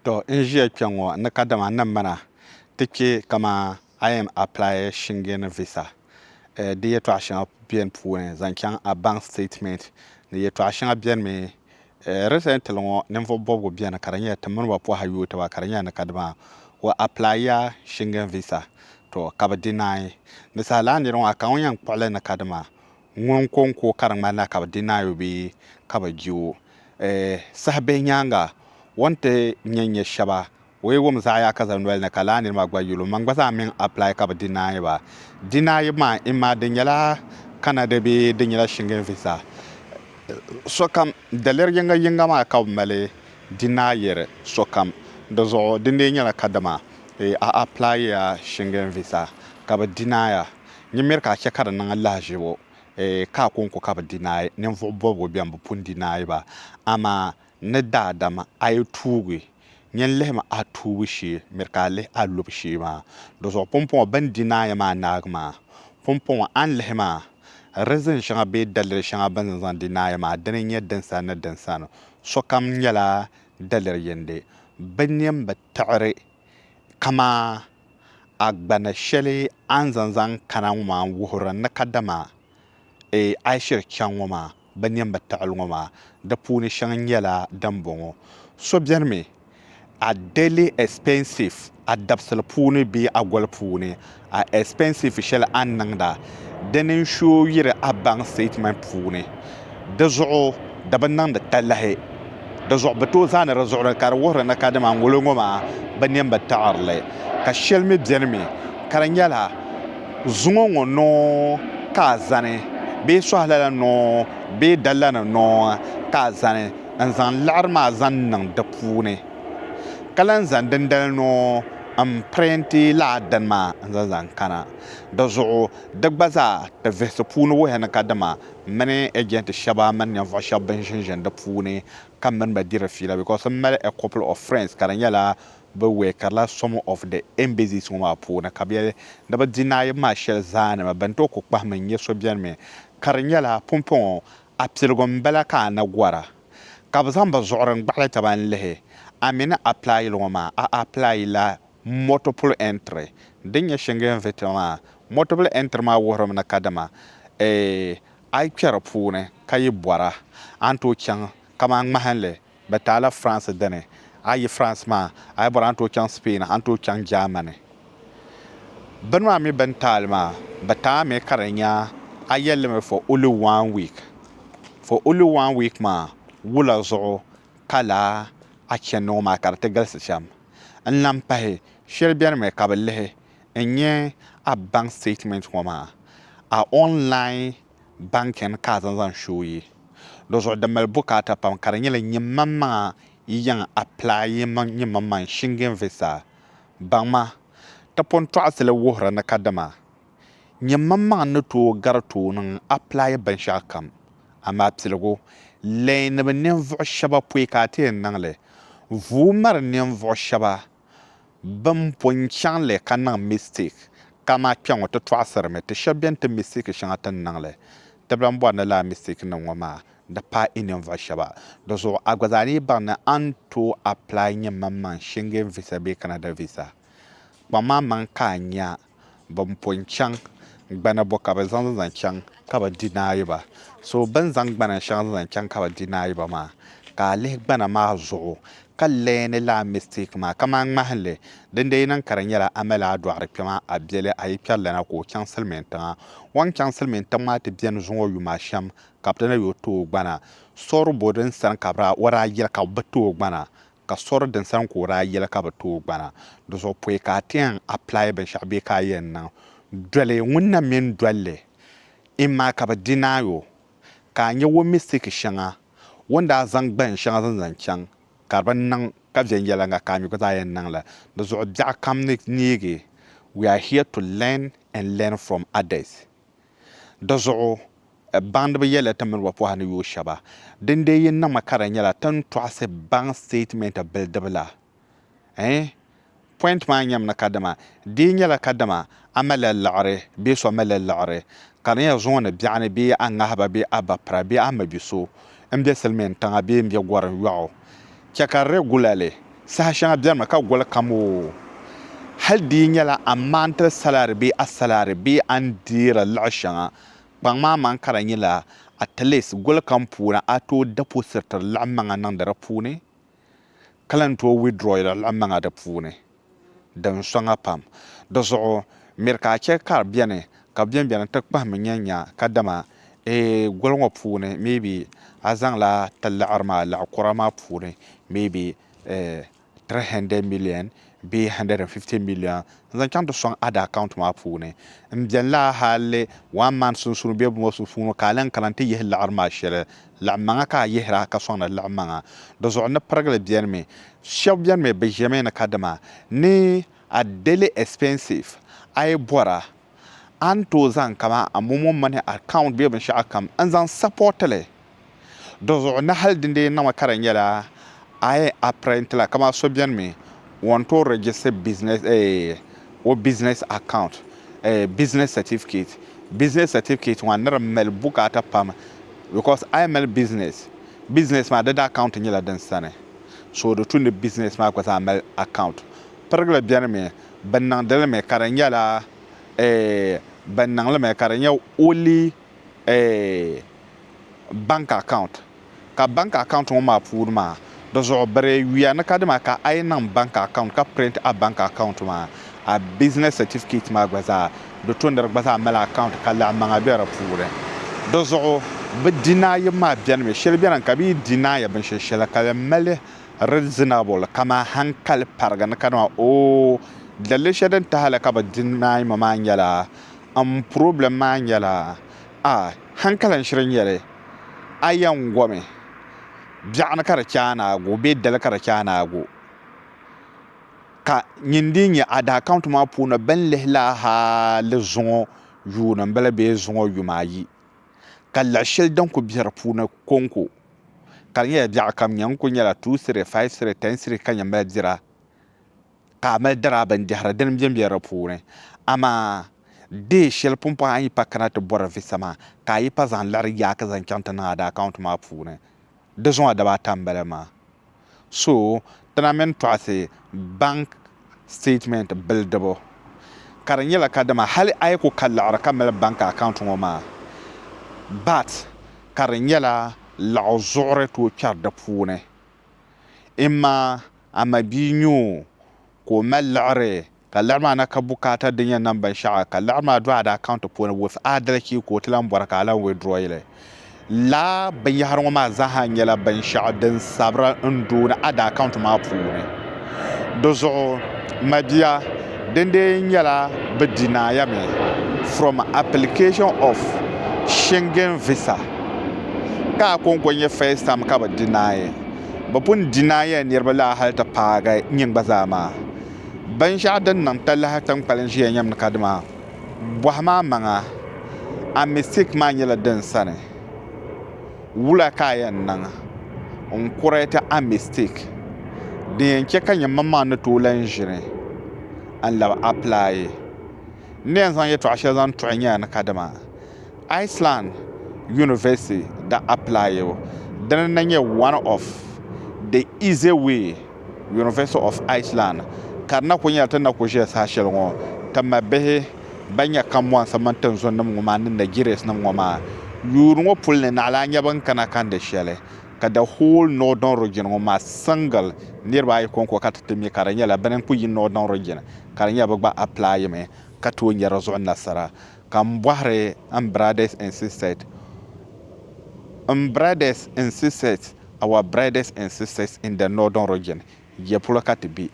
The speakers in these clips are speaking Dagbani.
To n ʒiya kpe ŋɔ ni kadama n ni mana ti kpe kaman a yɛn apply Shingen visa di yɛltɔɣa shɛŋa beni puuni zaŋ chaŋ a bank statement ni yɛltɔɣa shɛŋa beni mi recently ŋɔ ninvuɣ bɔbigu beni ka di nyɛla ti mini ba pɔhila yuui taba ka di nyɛla ni kadama o apply ya Shingen visa to ka bɛ deny ni saha lana nira ŋɔ a ka ŋun yɛn kpuɣi li ni kadama Ŋun ko n-ko ka di ŋmani na ka bɛ di naai o bee ka bɛ je o. Saha bihi nyaaŋa, o ni ti nya nya shɛba, o yi wum zaɣ yaaka zali noli ni ka laa nirimaa gba yuli o maŋ gba zaa mini apply ka bɛ di naai ba. Di naayib maa, imaa di nyɛla Canada bee di nyɛla Schengen visa, sokam daliri yiŋga yiŋga maa ka bɛ mali di naayiri sokam. Di zuɣu, di ni lee nyɛla kadama a apply ya Schengen visa ka bɛ di naai a, Nyin miri ka a chɛ ka di niŋ lahaʒibu ka a kɔŋko ka bɛ di naai, ninvuɣ bɔbigu bɛn bi pun di naai ba. Amaa ni daadam a yi tuugi, nyin lihim a tuubu shee, miri ka a lihi a lubu shee maa. Dɔzuɣu pumpɔŋɔ bɛn di naai maa naagi maa. Pumpɔŋɔ a ni lihi maa, rizin shɛŋa bee daliri shɛŋa bɛ ni zaŋ di naai maa, dini n-nyɛ dinsani ni dinsani. Sokam nyɛla daliri yindi. Bɛ nini bi tiɣiri kamaa. agbana shɛli a ni zaŋ zaŋ kana ŋɔ maa n-wuhiri n ni kadama a yi shiri chaŋ ŋɔ maa, bɛ niɛmbu taɣili ŋɔ maa, di puuni shɛŋa nyɛla dimbɔŋɔ, So beni mi, a daily expenses, a dabisili puuni bee a goli puuni, a expenses shɛli a ni niŋda, dini n-show yiri a bank statement puuni. di zuɣu di bi niŋdi talahi di zuɣu bi tooi zaani di zuɣuri ka di wuhiri ni kadama ŋolo ŋo maa bi nini bi taɣarili ka shɛli mii biɛni mii ka di nyɛla zuŋo ŋo noo ka a zani bee suhu lala noo bee da lana noo ka a zani n zaŋ laɣari maa zaŋ niŋ di puuni ka lahi zaŋ dindali noo n pirinti laa dini maa n zaŋ zaŋ kana dizuɣu di gba zaa ti vihisi puuni wuhi ni ka dama M mini agent shɛba mini ninvuɣ shɛba bɛn ʒinʒin di puuni ka m mini ba diri fiila because m mali a couple of friends ka di nyɛla bɛ weekirila some of the embassies ŋɔ maa puuni ka bɛ yɛli ni bɛ di naayim maa shɛli zaa ni ma bɛn tooi ku kpahim n nya so bɛni mi ka di nyɛla pumpɔŋɔ a piligu m-bala ka a ni gɔra ka bɛ zaŋ bɛ zuɣuri n-gbaɣili taba n-lihi a mi ni apply li ŋɔ maa a apply la Multiple entry, Din nyɛ Schengen visa maa, multiple entry maa wuhirimi ni kadama a yi kpɛri puuni ka yi bɔra a ni tooi chaŋ kamani ŋmahinli bɛ ti a la France dini a yi France maa a yi bɔra a ni tooi chaŋ Spain a ni tooi chaŋ Germany bini maa mi bɛn ti a li maa bɛ ti a mi ka di nya a yɛlimi for only one week for only one week maa wula zuɣu ka laa a chani ŋɔ maa ka di ti galisi shɛm. N lahi pahi shɛli bɛni mi ka bi lihi n nyɛ a bank statement ŋɔ maa, a online banking ka a zaŋ zaŋ shooi yi. Di zuɣu di mali bukaata pam ka di nyɛla nyimmaŋmaŋa yi yɛn apply nyimmaŋmaŋ Shingen visa. Baŋ ma, ti pun tɔɣisili wuhiri ni kadama Nyɛmmaŋmaŋ n ni tooi gari tooi niŋ apply binshɛɣu kam, amaa piligu leei ni bi ninvuɣu shɛba pɔi ka a ti yɛn niŋ li. Vuui mari ninvuɣu shɛba bɛn po n-chaŋ li ka niŋ mistake, kaman kpɛŋɔ ti tɔɣisiri mi ti shɛba bɛn ti mistake shɛŋa ti ni niŋ li. Tibila m-bɔri ni lala mistakenim ŋɔ maa di paai i ninvuɣu shɛba. Di zuɣu a gba zaa ni yi baŋ ni a ni tooi apply nyɛmmaŋmaŋ Schengen visa bee Canada visa, kpaŋm a maŋ ka a nya Bɛn pun chaŋ gbana bɔ ka bɛ zaŋ zaŋ chaŋ ka bɛ di naayiba? So bɛn zaŋ gbana shɛŋa zaŋ zaŋ chaŋ ka bɛ di naayiba maa, ka a lihi gbana maa zuɣu ka leeni li a mistake maa kaman ŋmahinli, dindee niŋ ka di nyɛla a mali a dɔɣiri kpɛma a biɛli a yi kpɛri lana ka o chaŋ silimiintiŋa. O ni chaŋ silimiintiŋ maa ti beni zuŋ o yuma shɛm ka bɛ ti na yo ti o gbana. Sɔri bɔ din sani ka bɛ daa yɛli ka bɛ ti o gbana ka sori din sani ka o daa yɛli ka bɛ tooi gbana di zuɣu pɔi ka a ti yɛn apply binshɛɣu bee ka a yɛn niŋ doli ŋun na mini doli li imma ka bɛ deny o ka a nya o mistake shɛŋa o ni daa zaŋ gbahin shɛŋa zaŋ zaŋ chaŋ ka di bi niŋ ka viɛnyɛliŋga ka a mi gba zaa yɛn niŋ li di zuɣu biɛɣukam ni neegi we are here to learn and learn from others. Di zuɣu baŋdiba yɛlila ti mini ba pɔha ni yooi shɛba. Din dee yi niŋmi ka di nyɛla ti ni tɔɣisi baŋ statement bilidibu la, eh? Point maa nyɛmi ni kadama di yi nyɛla kadama a malila liɣiri bee so malila liɣiri, ka di nyɛla zuŋɔ ni biɛɣuni bee a ŋahiba bee a bapira bee a mabiso n be silimiin tiŋa bee n be gɔri yɔɣu, chɛ ka regularly saha shɛŋa benimi ka goli kam o hali di yi nyɛla a monthly salary bee a salary bee a ni deeri luɣi shɛŋa kpaŋ maa man ka di nyɛla at least goli kam puuni a tooi depositiri luɣi maŋa niŋdi di puuni. ka lan tooi withdrawyi di lan maŋa di puuni din soŋa pam. Di zuɣu miri ka a chɛ ka di beni ka bɛ bɛnbɛni ti kpahimmi nya nya kadama a gol ŋɔ puuni maybe a zaŋla ti laɣiri maa laɣikura maa puuni maybe 300 million bee N150 million n-zaŋ chaŋ ti sɔŋ Ada account maa puuni. M beni la hali one month sunsuuni bee bɔŋɔ sunsuuni ka a lan kana nti yihi liɣiri maa shɛli. Laɣimmaŋa ka a yihira ka sɔŋdi liɣimmaŋa. Di zuɣu ni pirigili beni mi. Shɛba beni mi bɛ ʒemi ni kadama ni a daily expenses a yi bɔra a ni tooi zaŋ kamani a momo mini account bee binshɛɣu kam n-zaŋ support li di zuɣu ni hali dindee niŋmi ka di nyɛla a yɛn apprent la kamani so beni mi o ni tooi register business eh o business account eh business certificate business certificate maa ni di mali bukaata pam because a yɛn mali business business maa di account nyɛla din sani so di tu ni business maa gba zaa mali account pirigili beni mi Bɛ niŋdi li mi ka di nyɛla, eeh, bɛ niŋ li mi ka di nyɛ only, eeh, bank account. Ka bank account ŋɔ maa puuni maa, di zuɣu biri yuya ni ka dima ka a yi niŋ bank account ka print a bank account maa, a business certificate maa gba zaa, di to ni di gba zaa mali account ka laɣimaŋa be di puuni. Di zuɣu bɛ deny-bu maa beni mi, shɛli beni ka bɛ yi deny binshɛli shɛli ka di mali, reasonable, kaman hankali parigi ni ka dama oo dalili shɛli din tahi li ka bi deny ma maa nyɛla m problem maa nyɛla a hankali n shiri nyɛ li a yɛn gomi biɛɣu ni ka di chɛ a ni a go bee dali ka di chɛ a ni a go ka nyin dii nyɛ a daa count maa puuni bini lihi la hali zuŋɔ yuun m bala bee zuŋɔ yuma ayi ka lahi shɛli din kuli be di puuni konko ka di nyɛla biɛɣu kam nyɛ ŋun kuli nyɛla two city, five city, ten city ka nyɛ mali dira ka a mali dara bindɛhiri dini m-be be di puuni amaa day shɛli pumpɔŋ a ni yi pa kana ti bɔri visa maa ka a yi pa zaŋ liɣiri yaaki zaŋ chaŋ ti niŋ a di account maa puuni di zuŋɔ dibaa ata m-bala maa. so tina mini tɔɣisi bank statement bilidibu ka di nyɛla kadama hali a yi ku ka laɣiri ka mali bank account ŋɔ maa but ka di nyɛla laɣizuɣuri tooi kpɛri di puuni imma a mabia nyoo ka o mali liɣiri ka liɣiri maa na ka bukaata din yɛn niŋ binshɛɣu ka liɣiri maa do a daa account puuni with adalci ka o ti lan bɔri ka a lan withdraw li. Laa binyɛhiri ŋɔ maa zaaha nyɛla binshɛɣu din sabiri n-do ni a daa account maa puuni. Di zuɣu, mabia, dindee nyɛla bɛ deny mi from application of Schengen visa ka a kɔŋko nyɛ first time ka bɛ deny. bɛ pun di naai ya niriba la hal ti paagi nyin gba zaa maa. Binshɛɣu din niŋ talahi tiŋkpalin ʒiya nyam ni ka dima, bɔhi ma amaŋa, a mistake maa nyɛla din sani? Wula ka a yɛn niŋ n-correct a mistake din yɛn chɛ ka nyɛ mmaŋmaŋ ni tooi lan ʒini n-labi apply? N ni yɛn zaŋ yɛtɔɣ shɛli zaŋ tuɣi nya ni ka dima. Iceland University daa apply o dini na nyɛ one of the easy way University of Iceland ka di na kuli nyɛla ti ni na kuli ʒiya saha shɛli ŋɔ ti ma bihi ban nyɛ kambɔnsi mini tinzunnim ŋɔ maa ni Nigerias nim ŋɔ maa yuuri ŋɔ puli ni naɣila a nya bɛn kana kandi shɛli ka the whole northern region ŋɔ maa single niriba ayi kɔŋko ka ti ti mi ka di nyɛla bini n kuli yi northern region ka di nyɛla bɛ gba apply mi ka tooi nya di zuɣu nasara Ka m bɔhiri n brothers and sisters, M brothers and sisters, our brothers and sisters in the northern region, ya polo ka ti be?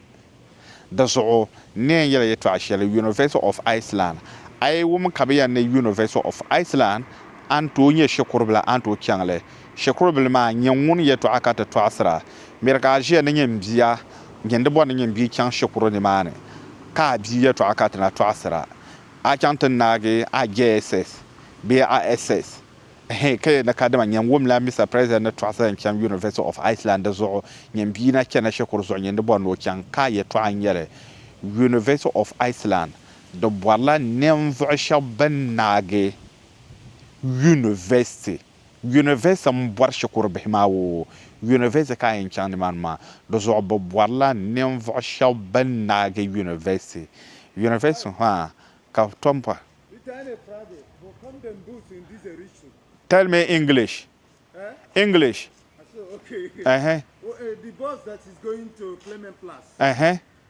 Di zuɣu n ni yɛn yɛli ya yɛtɔɣ shɛli, University of Iceland, a yi wum ka bɛ yɛn ni University of Iceland, a ni tooi nyɛ shikuribila, a ni tooi chaŋ li. Shikuribili maa n-nyɛ ŋun yɛtɔɣa ka ti tɔɣisira. Miri ka a ʒiya ni nyin bia, nyini di bɔri ni nyin bia chaŋ shikuru nimaani, ka a bia yɛtɔɣa ka ti na tɔɣisira. A chaŋ ti naagi a JSS bee a SS? Ɛhɛɛn, ka yɛli ni kadama nyini wumla Mister President ni tɔɣisi zaŋ chaŋ University of Iceland di zuɣu nyini bia na chana shikuru zuɣu nyini di bɔri ni o chaŋ, ka a yɛtɔɣa n-nyɛ li. University of Iceland di bɔrila ninvuɣu shɛba bɛn naagi University. Yunivɛsiti m-bɔri shikuru bihi maa o yunivɛsiti ka a yɛn chaŋ nimaani maa di zuɣu bɛ bɔrila ninvuɣ shɛba bɛn naagi yunivɛsiti yunivɛsiti ha ka tom pa Tell me English English uh-huh uh-huh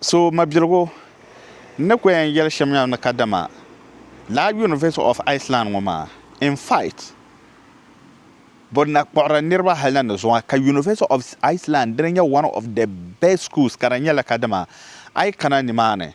So mabiligu n ni ko yɛn yɛli shɛm yaa ni kadama lala University of Iceland ŋɔ maa in fact bɛ na kpuɣiri niriba hali na ni zuŋɔ ka University of Iceland dini nyɛ one of the best schools ka di nyɛla kadama a yi kana nimaani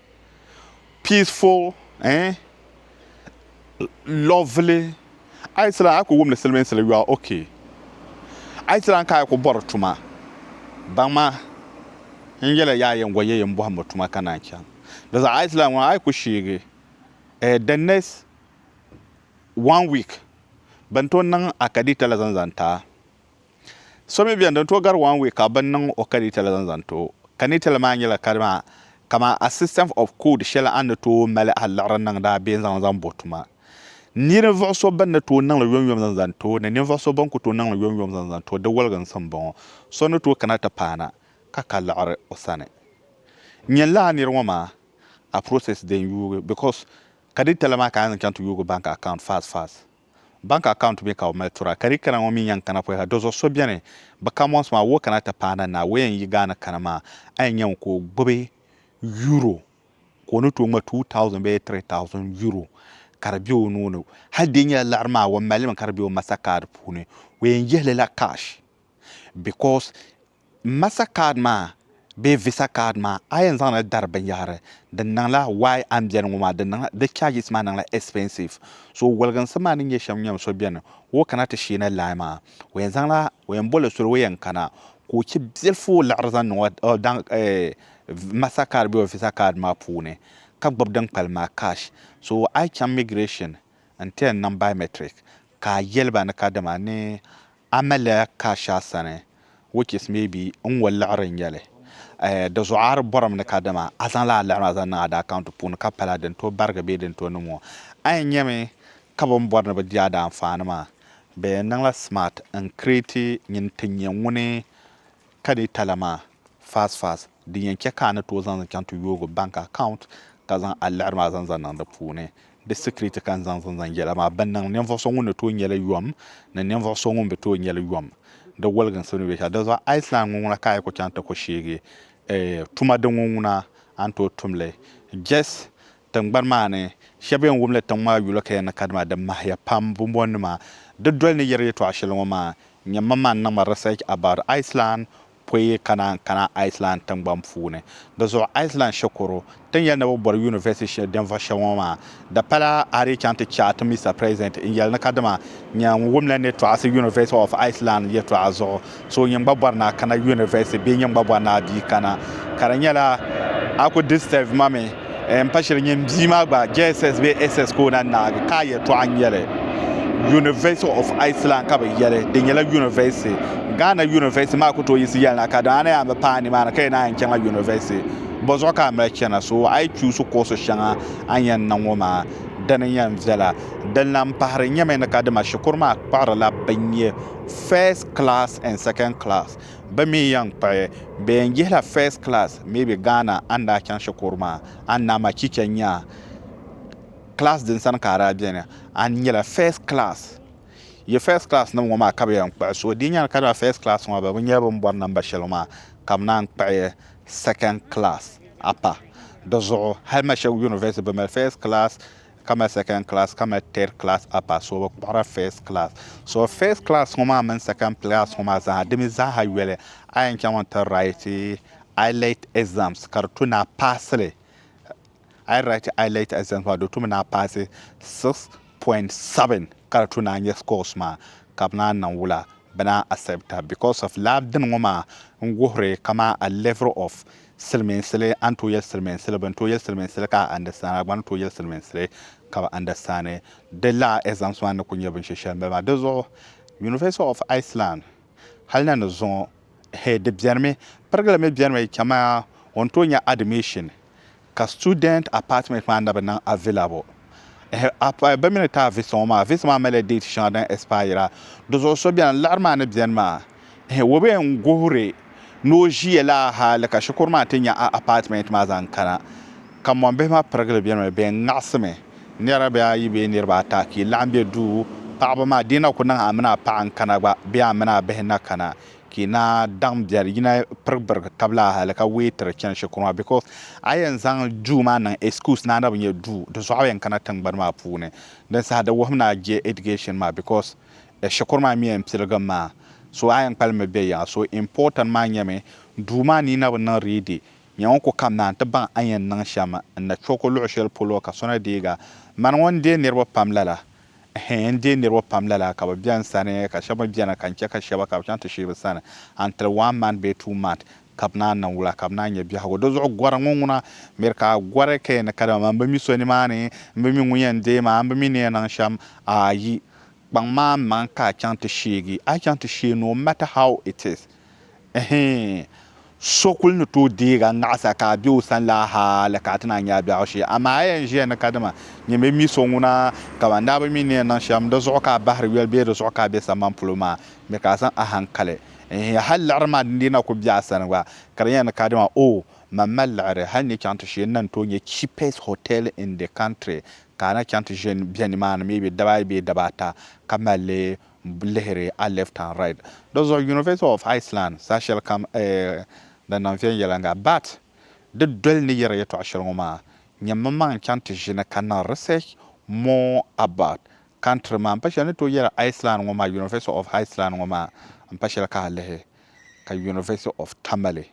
peaceful eh lovely ayi tila ayi ku wumdi silimiinsi li you are okay ayi tila ka ayi ku bɔri tuma baŋma n yɛli yaa yɛngo yɛ yin bɔhimbo tuma ka naan chaŋ di zuɣu ayi tila ŋuna ayi ku sheegi eh the next one week bɛn tooi niŋ a kadita la zaŋ zaŋ ti a. So mi beni din tooi gari one week ka bɛ niŋ o kanitali zaŋ zaŋ ti o. Kanitali maa nyɛla kadi maa, kaman a system of code shɛli a ni tooi mali a liɣiri niŋdi a bee n-zaŋ li zaŋ bo tuma. Ninvuɣ so bɛn ni tooi niŋ li yomyom zaŋ zaŋ ti o ni ninvuɣ so bɛn ku tooi niŋ li yomyom zaŋ zaŋ ti o di waliginsi m-bɔŋɔ, So ni tooi kana ti paana ka ka liɣiri o sani. Nyini lala nir ŋɔ maa a process din yuugi because kanitali maa ka a ni zaŋ chaŋ ti yuugi bank account fast fast. Bank account mi ka o mali tura ka di kana ŋɔ mi n yan kana pɔi ha dozuɣu so beni bi ka months maa woo kana ti paai na naa wee n yi gaa ni kana maa a yan nya ŋun ka o gbubi euro ka o ni tooi ŋma 2000 bee 3000 euro ka di be o nuu ni hali di nyɛla liɣiri maa o mali mi ka di be o master card puuni o yan yihili la cash because Master card maa bee visa card maa a yɛn zaŋli dari binyɛhiri di niŋla why a ni beni ŋɔ maa di niŋla di charges maa niŋla expensive so woliginsi maa ni nyɛ shɛm nyam so beni ka o kana ti sheeni line maa o yɛn zaŋla o yɛn boli soli o yɛn kana ka o che bilifu o liɣiri zaŋ niŋ o daŋ master card bee o visa card maa puuni ka gbubi din kpalim maa cash so a yi chaŋ migration n ti yɛn niŋ biometric ka a yɛli ba ni ka dama ni Amelia Casha sani, which is maybe n ŋɔ liɣiri n nyɛli. Di zuɣu a di bɔrimi ni kadama a zaŋla a liɣiri maa zaŋ niŋ a daa account puuni ka pala din tooi barigi bee din tooi niŋ ŋɔ. A yɛn nyami ka bɛ ni bɔri ni bɛ di a daa anfaani maa, bɛ yɛn niŋla smart n create nyini ti nyɛ ŋuni ka data la maa fast fast. din yɛn chɛ ka a ni tooi zaŋ li chaŋ ti yoogi bank account ka zaŋ a liɣiri maa zaŋ zaŋ niŋ di puuni. Di security ka n zaŋ zaŋ zaŋ yɛla maa bɛ niŋ ninvuɣ so ŋun ni tooi nyɛ li yom ni ninvuɣ so ŋun bi tooi nyɛ li yom di woliginsi ni be shɛl. Dinzuɣu Iceland ŋuŋuna ka a yi ku chaŋ ti ku sheegi tuma din ŋuŋuna a ni tooi tum li. Jess, Tiŋgbani maa ni, shɛba yɛn wum li tiŋ maa yuli ka yɛn ni ka dima di mahiya pam bombonima. Di doli ni yɛri yɛtɔɣa shɛli ŋɔ maa, nyɛ mam maa ni niŋ ma research about Iceland poi yi kana n-kana Iceland tiŋgbani puuni. Di zuɣu Iceland shikuru tin yɛli ni bɛ bɔri University shɛli din vuɣi shɛba ŋɔ maa di pala a di chaŋ ti chaati Mister President n-yɛli ni kadama nya n-wumla ni tɔɣisi University of Iceland yɛtɔɣa zuɣu so nyin gba bɔri ni a kana University bee nyin gba bɔri ni a bii kana ka di nyɛla a ku disturb ma mi. N pa shili nyini bia maa gba JSS bee SS ka o na naagi ka a yɛltɔɣa n-nyɛli. University of Iceland ka bɛ yɛli, di nyɛla yunivɛsiti. Ghana yunivɛsiti maa ku tooi yiɣisi yɛli na ka dama a ni yɛn bi paai nimaani ka yɛn naan chaŋla yunivɛsiti, bɔzuɣu ka a mali chana? So a yi chuusi koosi shɛŋa a ni yɛn niŋ ŋɔ maa, dini n-yɛn viɛla? Din lan pahiri nyɛmi ni ka dama shikuru maa kpuɣirila binyɛ first class and second class bɛ mi yɛn kpuɣi bɛ yɛn yihila first class maybe Ghana a ni daa chaŋ shikuru maa a ni daa ma chicha nya class din sani ka a daa beni a ni nyɛla first class yi first class nim ŋɔ maa ka bɛ yɛn kpuɣi so di nyɛla ka daa first class ŋɔ bɛ bi nyɛ bɛ ni bɔri number shɛli maa ka bɛ naan kpuɣi second class a pa di zuɣu hali ma Shegu University bɛ mali first class ka mali second class ka mali third class upper so bi kpuɣira first class so first class ŋɔ maa mini second class ŋɔ maa zaa di mi zaaha yoli a yɛn chaŋ n ti write IELET exams ka di tu ni a paasi li a yi write IELET exams maa di tu mi ni a paasi 6.7 ka di tu ni a nyɛ scores maa ka bi naan niŋ wula bi naan accept a because of lala dini ŋɔ maa n wuhiri kamani a level of Silimiinsili, a ni tooi yɛli silimiinsili, bɛ ni tooi yɛli silimiinsili ka a andɛstaan, a gba ni tooi yɛli silimiinsili ka bɛ andɛstaani. Di laa ɛzamsi maa ni kul nyɛ binshɛ shɛli m-bala maa. Di zuɣu University of Iceland hali na ni zuŋɔ hee di bɛnimi, pirigili mi bɛnimi chɛmaya o ni tooi nya admission ka student apartment maa na bi niŋ available. Eh, apa, bɛ mi ni taai visa ŋɔ maa. Visa maa malila date shɛŋa din expire. Di zuɣu so beni, liɣiri maa ni beni maa. Eh, Wobei n-guhiri ni o ʒiya lala hali ka shikuru maa ti nya a apartment maa zaŋ kana. Ka mɔmbihi maa pirigili beni mi, bɛ ŋaɣisimi niriba bee ayi bee niriba ata ka yi laɣim be duu. Paɣiba maa, di yi na ku niŋ a mini a paɣa n-kana gba bee a mini a bihi na kana, Ka yi na daɣim biɛri, yi na pirigi birigi tab la hali ka weetiri chani shikuru maa because a yɛn zaŋ duu maa niŋ excuse ni a na bi nyɛ duu, di zɔɣu yɛn kana tiŋgbani maa puuni. Din saha di wuhim ni a je education maa because shikuru maa mi yɛn piligim maa so a yɛn kpalim mi be yiŋa. So important maa nyɛmi duu maa ni yi na bi niŋ ready, nyɛ ŋun ku kam naan ti baŋ a ni yɛn niŋ shɛm n-na chɔku luɣ shɛli polo ka so na deeg a. Mani ŋun deei niriba pam lala, Ɛhɛɛn! N deei niriba pam lala, ka bɛ be n sani, ka shɛba mi beni ka n chɛ ka shɛba ka bɛ chaŋ ti sheei bɛ sani until one month bee two month ka bɛ naan niŋ wula ka bɛ naan nya biɛhigu. Dizuɣu gɔri ŋɔ ŋuna miri ka a gɔri ka yi ni kadama maa, m bi mi so nimaani, m bi mi ŋun yɛn deei ma, m bi mi ni yɛn niŋ shɛm. Ayi! Kpaŋ ma n maŋ ka a chaŋ ti sheegi. A yi chaŋ ti sheei no matter how it is, Ɛhɛɛn! So kul ni tooi deeg a naɣisa ka a be o sani la hal ka a ti naan nya a biɛhigu shee. Amaa a yɛn ʒiya ni kadama nyin bi mi so ŋuna, kaman n daa bi mi ni yɛn niŋ shɛm di zuɣu ka a bahiri yoli bee di zuɣu ka a be sambani polo maa, mi ka a zaŋ a haŋkali. Ɛhɛɛn! Hal liɣiri maa din dii na kul be a sani gba, ka di nyɛla ni kadama, Oo! Man mali liɣiri hal n ni chaŋ ti shee, n na ni tooi nya cheapest hotel in the country ka a na chaŋ ti ʒe bɛ nimaani maybe daba ayi bee daba ata ka mali lihiri a left and right. Dizuɣu University of Iceland saha shɛli kam ni niŋ viɛnyɛliŋga. But di doli ni yɛri yɛtɔɣa shɛli ŋɔ maa, nyɛ mmaŋ n-chaŋ ti ʒini ka niŋ research more about country maa. M pa shɛli ni tooi yɛri Iceland ŋɔ maa, University of Iceland ŋɔ maa, m pa shɛli ka a lihi ka University of Tamale.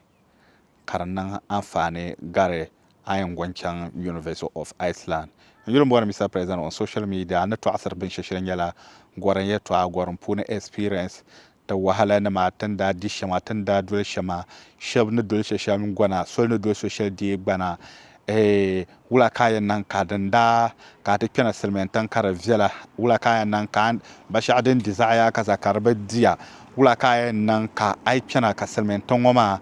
ka di niŋ anfaani gari a yɛn go n-chaŋ University of Iceland. N yuli m-bɔri Mister President on social media ni tɔɣisiri binshɛ shɛli nyɛla gɔrim yɛtɔɣa, gɔrim puuni experience, ti wahala nima, ti ni daa di shɛm a, ti ni daa doli shɛm a, shɛba ni doli shɛshɛm gɔna, soli ni doli so shɛli deei gbana, Eeh! Wula ka a yɛn niŋ ka din daa ka a ti kpɛna silimiin tiŋ ka di viɛla? Wula ka a yɛn niŋ ka ba shɛɣu din di zaɣi yaai ka za ka di bi di ya? Wula ka a yɛn niŋ ka a yi kpɛna ka silimiin tiŋ ŋɔ maa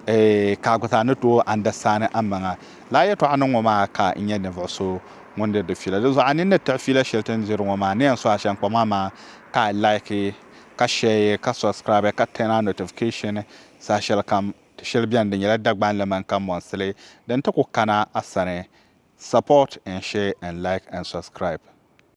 eeh ka a gba zaa ni tooi andasitaani amaŋa? Lala yɛltɔɣa niŋ ŋɔ maa ka n nyɛ ninvuɣu so ŋun diri di fiila. Dinzuɣu a nini ni tiɣi fiila shɛli ti ni diri ŋɔ maa ni yɛn so a shɛnkpa maa maa ka a laiki ka shɛɛye ka subscribe ka turn on notification saha shɛlikam. Ti shɛli beni di nyɛla Dagbanli mani kanbɔnsili din ti ku kana a sani Support and share and like and subscribe.